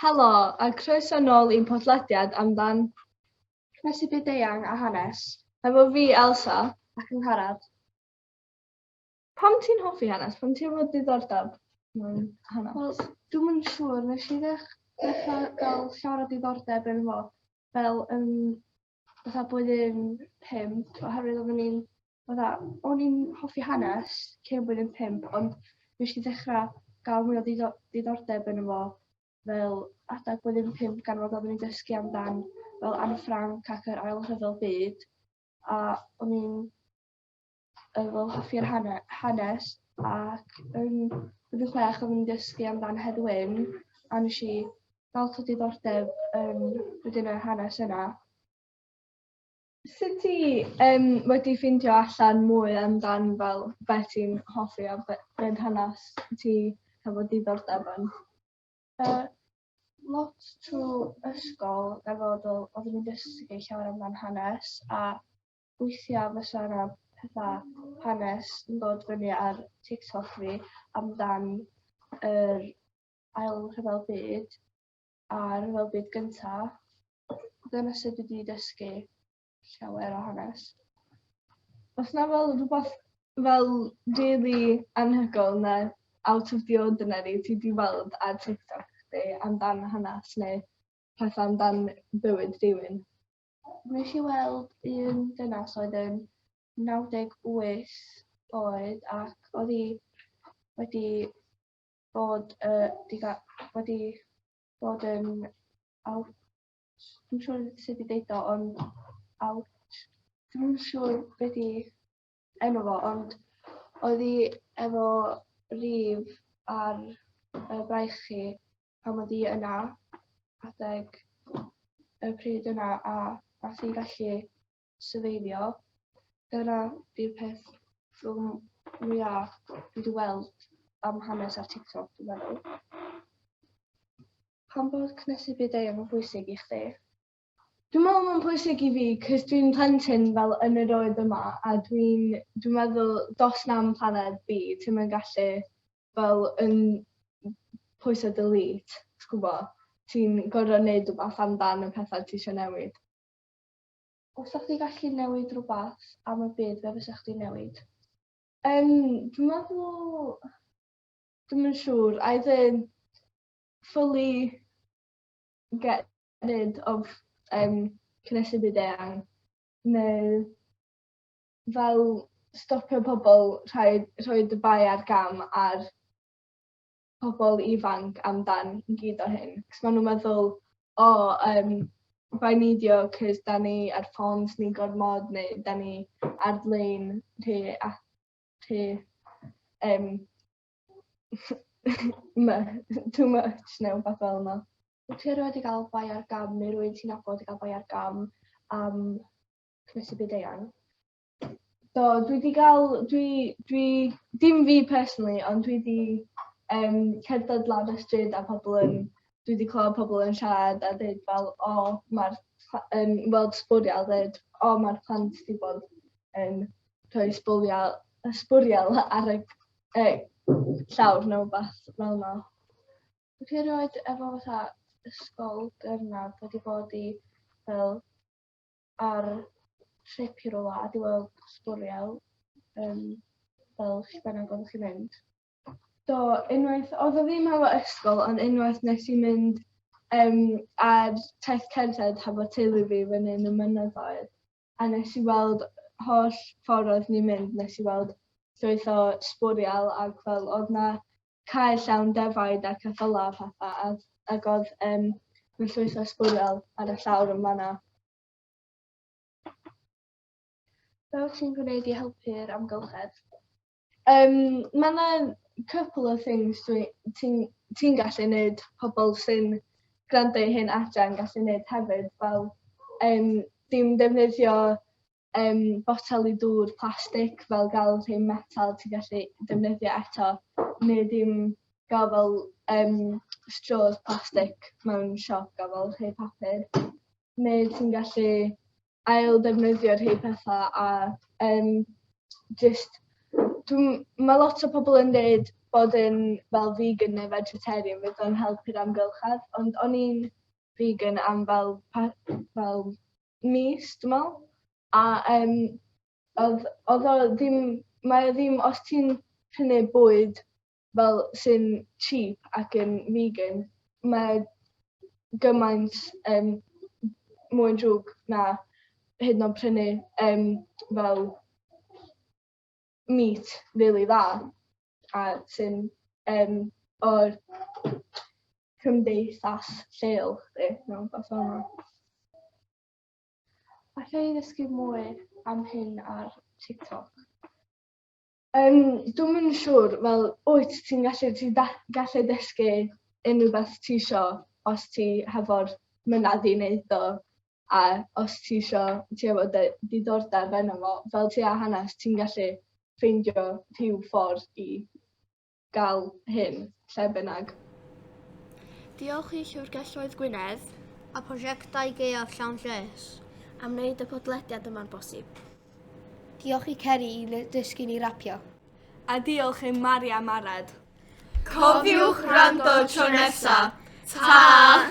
Helo, a croeso nôl i'n podlediad amdan Croesi Byd-eang a Hanes. Hefo fi, Elsa. Ac Angharad. Pam ti'n hoffi hanes? Pam ti efo diddordeb mewn hanes? Wel, dwi'm yn siŵr, nes i ddech- ddechra ga'l llawer o diddordeb ynddo fo fel yn fatha blwyddyn pump oherwydd odden ni'n fatha o'n i'n hoffi hanes cyn blwyddyn pump ond nesh i ddechra ga'l mwy o ddido- diddordeb yno fo fel adag blwyddyn pump gan fod odden ni'n dysgu amdan fel Anne Frank ac yr ail rhyfel byd a o'n i'n Yy wel hoffi'r hane- hanes ac yn blwyddyn chwech oeddwn i'n dysgu amdan Hedd Wyn a nesh i lot o diddordeb yn wedyn y hanes yna. Sut ti yym wedi ffindio allan mwy amdan fel be' ti'n hoffi a be' be' yn hanes ti hefo diddordeb yn? Yy lot trw ysgol efo fel oddwn i'n dysgu llawer amdan hanes a Weithiau fysa 'na petha hanes yn dod fyny ar TikTok fi amdan yr Ail Rhyfel Byd a Rhyfel Byd Gynta'. Dyna sut dwi 'di dysgu llawer o hanes. Oes 'na fel rhywbeth fel rili anhygoel ne' out of the ordinary ti 'di weld ar TikTok chdi amdan hanes neu petha amdan bywyd rhywun? Wnes chi weld un dynas oedd yn 98 oed ac oedd hi wedi bod, uh, diga, wedi bod yn out, dwi'n siŵr sut i ddeud o, ond out, dwi'n siŵr beth i enw fo, ond oedd hi efo rif ar y braich chi pan oedd hi yna adeg y pryd yna a nath hi gallu syfeifio. Dyna 'di'r peth rhwng mwya dwi wedi weld am hanes ar TikTok dwi'n meddwl. Pam bod cnesu byd-eang yn bwysig i chdi? Dwi'n meddwl mae'n pwysig i fi cys dwi'n plentyn fel yn yr oed yma a dwi'n dwi'n meddwl dos na'm planed fi ti'm yn gallu fel yn pwyso delete ti gwbo ti'n gor'o' neud rwbath amdan y petha ti isio newid. Os 'sa chdi gallu newid rwbath am y byd be' fysa chdi'n newid? Yym dwi'n meddwl dwi'm yn siŵr either fully get nid of um, cynnysu byd eang, neu fel stopio pobl rhoi, rhoi dy bai ar gam ar pobl ifanc amdan i gyd o hyn. Cos maen nhw'n meddwl, o, oh, um, by neidio, cos da ni ar ffons ni gormod, neu da ni ar-lein rhe, rhe um, too much neu rhywbeth fel yna. Wyt ti erioed wedi cael bai ar gam neu rwy'n ti'n nabod wedi cael bai ar gam am cwrs y byd eang? Do, dwi wedi cael, dwi, dwi, dim fi personally, ond dwi wedi um, cerdded lan y stryd a pobl yn, dwi wedi clywed pobl yn siarad a dweud fel, o, oh, mae'r, yn weld sbwriel, dweud, o, oh, mae'r plant wedi bod yn rhoi sbwriel, sbwriel ar y e, llawr neu beth fel yna. Dwi chi erioed efo fatha ysgol gyrnaf wedi bod i fel ar trip i rola a di weld sbwriel um, fel chi bennog oedd chi'n mynd? Do, unwaith, oedd o ddim hefo ysgol, ond unwaith nes i mynd um, ar taith cerdded hefo teulu fi fyny yn y mynyddoedd. A nes i weld holl ffordd oedd ni'n mynd nes i weld llwyth o sbwriel ac fel oedd na cae llawn defaid a ceffyla a phetha a ac oedd um, na llwyth o sbwriel ar y llawr yn fanna. Beth ti'n gwneud i helpu'r amgylchedd? Um, mae yna couple of things ti'n ti gallu gwneud pobl sy'n gwrando i hyn adre'n gallu gwneud hefyd fel um, dim defnyddio um, botel i dŵr plastig fel gael rhai metal ti'n gallu defnyddio eto neu dim gael fel um, straws plastig mewn siop gael fel rhai papur neu ti'n gallu ail ddefnyddio rhei pethau a um, just mae lot o pobl yn dweud bod yn fel vegan neu vegetarian fydd o'n helpu'r amgylchedd, ond o'n i'n vegan am fel, fel mis, dwi'n meddwl. A um, oedd, oedd o ddim, mae o ddim, os ti'n prynu bwyd fel sy'n cheap ac yn vegan mae gymaint yym mwy drwg na hyd yn o'd prynu yym fel meat rili dda a sy'n yym o'r cymdeithas lleol 'lly mewn ffor fel 'na. Alla i ddysgu mwy am hyn ar Tiktok? Yym dwi'm yn siŵr fel wyt ti'n gallu ti da- gallu dysgu unrhyw beth ti isio os ti hefo'r mynadd i neud o a os ti isio ti efo dy diddordeb yno fo fel ti â hanes ti'n gallu ffeindio rhyw ffordd i gael hyn lle bynnag. Diolch i Llyfrgelloedd Gwynedd a Prosiectau Gaeaf Llawn Lles am wneud y podlediad yma'n bosib. Diolch i Ceri i dysgu ni rapio. A diolch i Mari am Arad. Cofiwch wrando tro nesa. Ta!